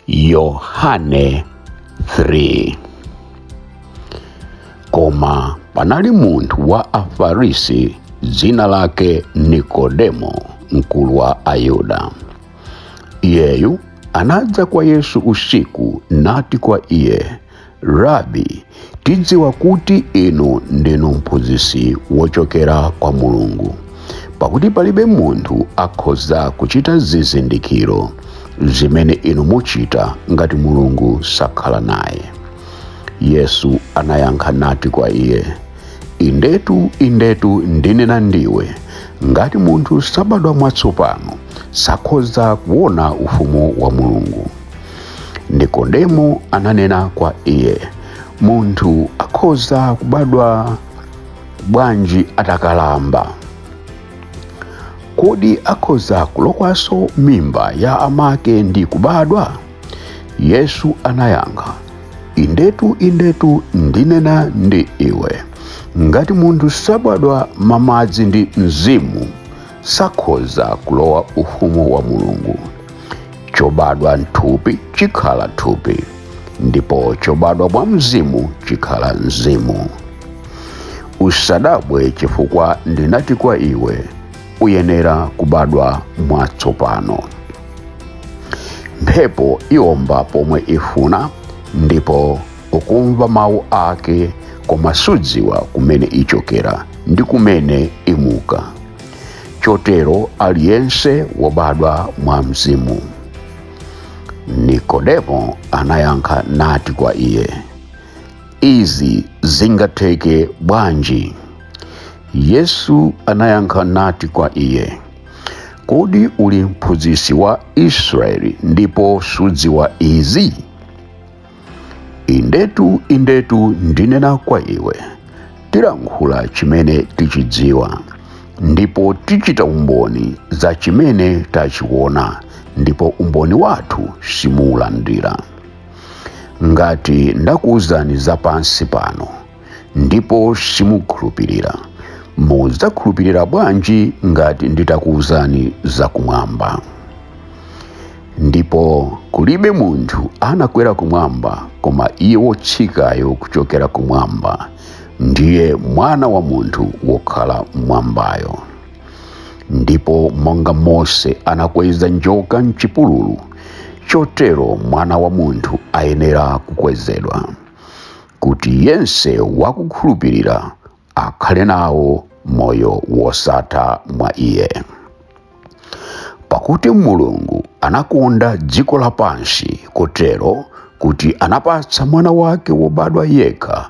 yohane 3 koma panali munthu wa afarisi dzina lake nikodemo mkulu wa ayuda Iyeyu anadza kwa Yesu usiku nati kwa iye, Rabi, tidziwa kuti inu ndinu mphunzitsi wochokera kwa Mulungu, pakuti palibe munthu akhoza kuchita zizindikiro zimene inu muchita ngati Mulungu sakhala naye. Yesu anayankha nati kwa iye, indetu indetu ndinena ndiwe ngati munthu sabadwa mwatsopano sakhoza kuona ufumu wa mulungu nikodemo ananena kwa iye munthu akhoza kubadwa bwanji atakalamba kodi akhoza kulowanso m'mimba ya amake ndi kubadwa yesu anayankha indetu indetu ndinena ndi iwe ngati munthu sabadwa mwa madzi ndi mzimu sakhoza kulowa ufumu wa mulungu chobadwa m'thupi chikhala thupi ndipo chobadwa mwa mzimu chikhala mzimu usadabwe chifukwa ndinati kwa iwe uyenera kubadwa mwatsopano mphepo iomba pomwe ifuna ndipo ukumva mawu ake koma sudziwa kumene ichokera ndi kumene imuka chotero aliyense wobadwa mwa mzimu nikodemo anayankha nati kwa iye izi zingatheke bwanji yesu anayankha nati kwa iye kodi uli mphunzitsi wa israeli ndipo sudziwa izi indetu indetu ndinena kwa iwe tilankhula chimene tichidziwa ndipo tichita umboni za chimene tachiona ndipo umboni wathu simuulandira ngati ndakuwuzani za pansi pano ndipo simukhulupirira mudzakhulupirira bwanji ngati nditakuwuzani zakumwamba ndipo kulibe munthu anakwera kumwamba koma iye wotsikayo kuchokera kumwamba ndiye mwana wa munthu wokhala mmwambayo ndipo monga mose anakweza njoka mchipululu chotero mwana wa munthu ayenera kukwezedwa kuti yense wakukhulupirira akhale nawo moyo wosatha mwa iye pakuti mulungu anakonda dziko lapansi kotero kuti anapatsa mwana wake wobadwa yekha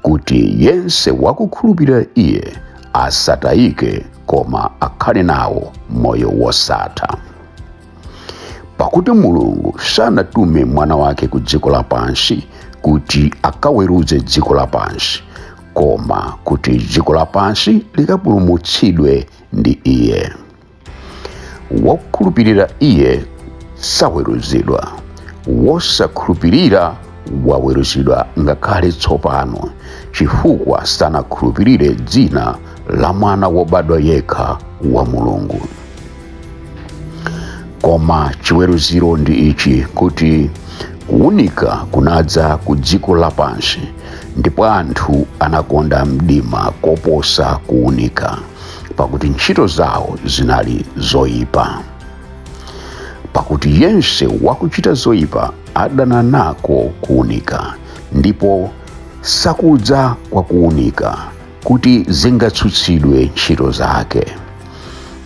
kuti yense wakukhulupirira iye asatayike koma akhale nawo moyo wosatha pakuti mulungu sanatume mwana wake ku dziko lapansi kuti akaweruze dziko lapansi koma kuti dziko lapansi likapulumutsidwe ndi iye wokhulupirira iye saweruzidwa wosakhulupirira waweruzidwa ngakhale tsopano chifukwa sanakhulupirire dzina la mwana wobadwa yekha wa mulungu koma chiweruziro ndi ichi kuti kuwunika kunadza ku dziko lapansi ndipo anthu anakonda mdima koposa kuwunika pakuti ntchito zawo zinali zoyipa pakuti yense wakuchita zoyipa adana nako kuwunika ndipo sakudza kwa kuwunika kuti zingatsutsidwe ntchito zake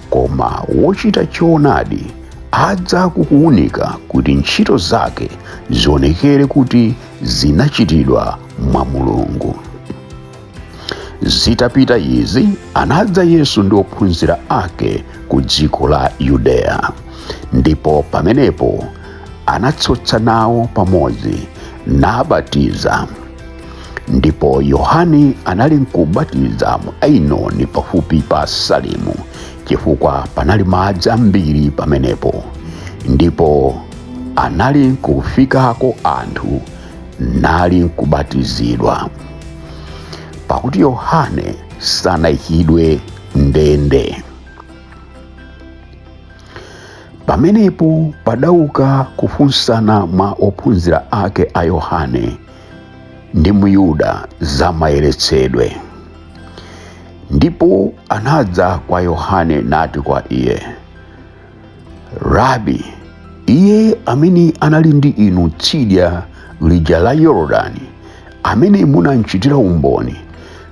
koma wochita choonadi adza kukuwunika kuti ntchito zake zionekere kuti zinachitidwa mwa mulungu zitapita izi anadza yesu ndi ophunzira ake ku dziko la yudeya ndipo pamenepo anatsotsa nawo pamodzi nabatiza ndipo yohane anali nkubatiza mu ainoni pafupi pa salimu chifukwa panali madzi ambiri pamenepo ndipo anali nkufikako anthu nali nkubatizidwa pakuti yohane sanayikidwe mndende pamenepo padauka kufunsana mwa ophunzira ake a yohane ndi myuda za mayeretsedwe ndipo anadza kwa yohane nati kwa iye rabi iye amene anali ndi inu tsidya lija la yorodani amene munamchitira umboni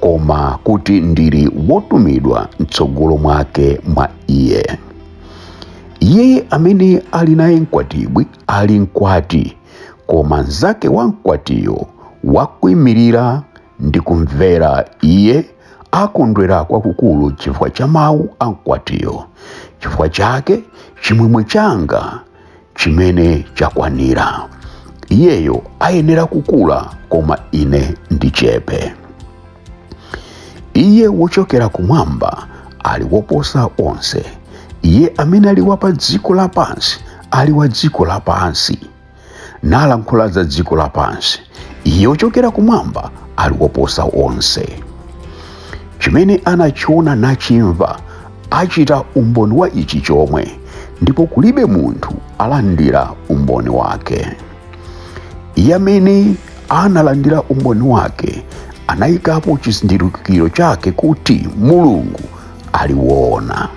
koma kuti ndili wotumidwa mtsogolo mwake mwa iye iye amene ali naye mkwatibwi ali mkwati koma mnzake wa mkwatiyo wakuimirira ndi kumvera iye akondwera kwakukulu chifukwa cha mawu a mkwatiyo chifukwa chake chimwemwe changa chimene chakwanira iyeyo ayenera kukula koma ine ndichepe iye wochokera kumwamba ali woposa onse iye amene ali wa pa dziko lapansi ali wa dziko lapansi nalankhula za dziko lapansi iye wochokera kumwamba ali woposa onse chimene anachiona nachimva achita umboni wa ichi chomwe ndipo kulibe munthu alandira umboni wake iye amene analandira umboni wake anayikapo chizindikiro chake kuti mulungu ali woona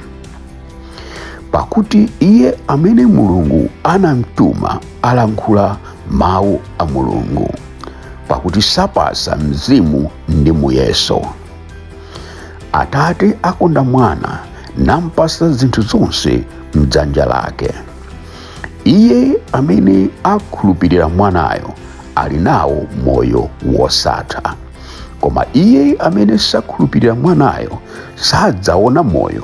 pakuti iye amene mulungu anamtuma alankhula mawu a mulungu pakuti sapatsa mzimu ndi muyeso atate akonda mwana nampatsa zinthu zonse mdzanja lake iye amene akhulupirira mwanayo ali nawo moyo wosatha koma iye amene sakhulupirira mwanayo sadzaona moyo